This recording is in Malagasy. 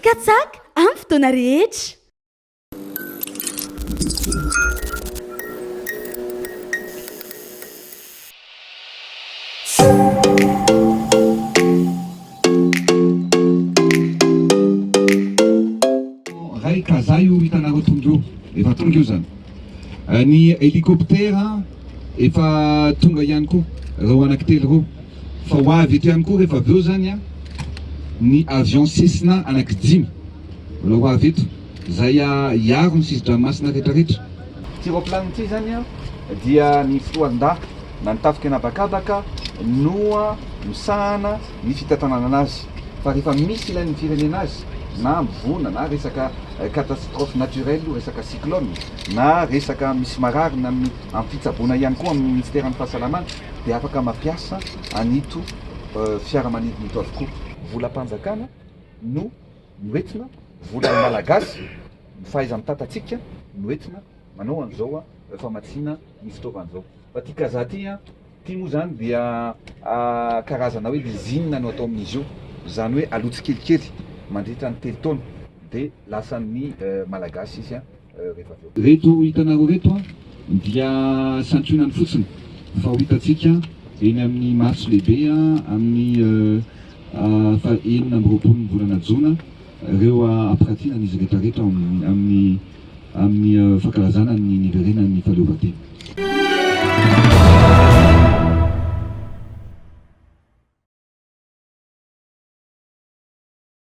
Katsaka amin'ny fotoana rehetra. Ray kaza io hitanareo tonga io, efa tonga io zany ny helicoptera. efa tonga ihany koa ireo anaky telo ireo fa ho avy eto ihany koa rehefa avy eo izany a ny avion Cessna anaky dimy mbola ho avy eto izay hiaro ny sisin-dranomasina rehetrarehetra. Ity raoplanina ity izany a dia ny fitoarin-dahy na ny tafika na bakabaka no misahana ny fitantananana azy fa rehefa misy ilain'ny firenena azy na hambovoana na resaka catastrophe naturelle, resaka cyclone, na resaka misy marary na ny amin'ny fitsaboana ihany koa amin'ny Ministeran'ny Fahasalamana dia afaka mampiasa an'ito fiaramanidina ito avokoa. Volam-panjakana no noentina, volan'ny Malagasy, ny fahaiza-mitantantsika no entina manao an'izao famatsiana io fitaovana izao. Fa ity kazaha ity an! Ity moa izany dia karazana hoe lizina no atao amin'izy io, izany hoe aloha tsikelikely mandritra ny telo taona dia lasan'ny Malagasy izy rehefa avy eo. Ireto hitanareo ireto dia santionany fotsiny fa ho hitantsika eny amin'ny Marche lehibe amin'ny faha enina amby roapolon'ny volana jona ireo ampiratiana an'izy rehetra rehetra ao amin'ny amin'ny fankalazana ny niverenan'ny fahaleovantena.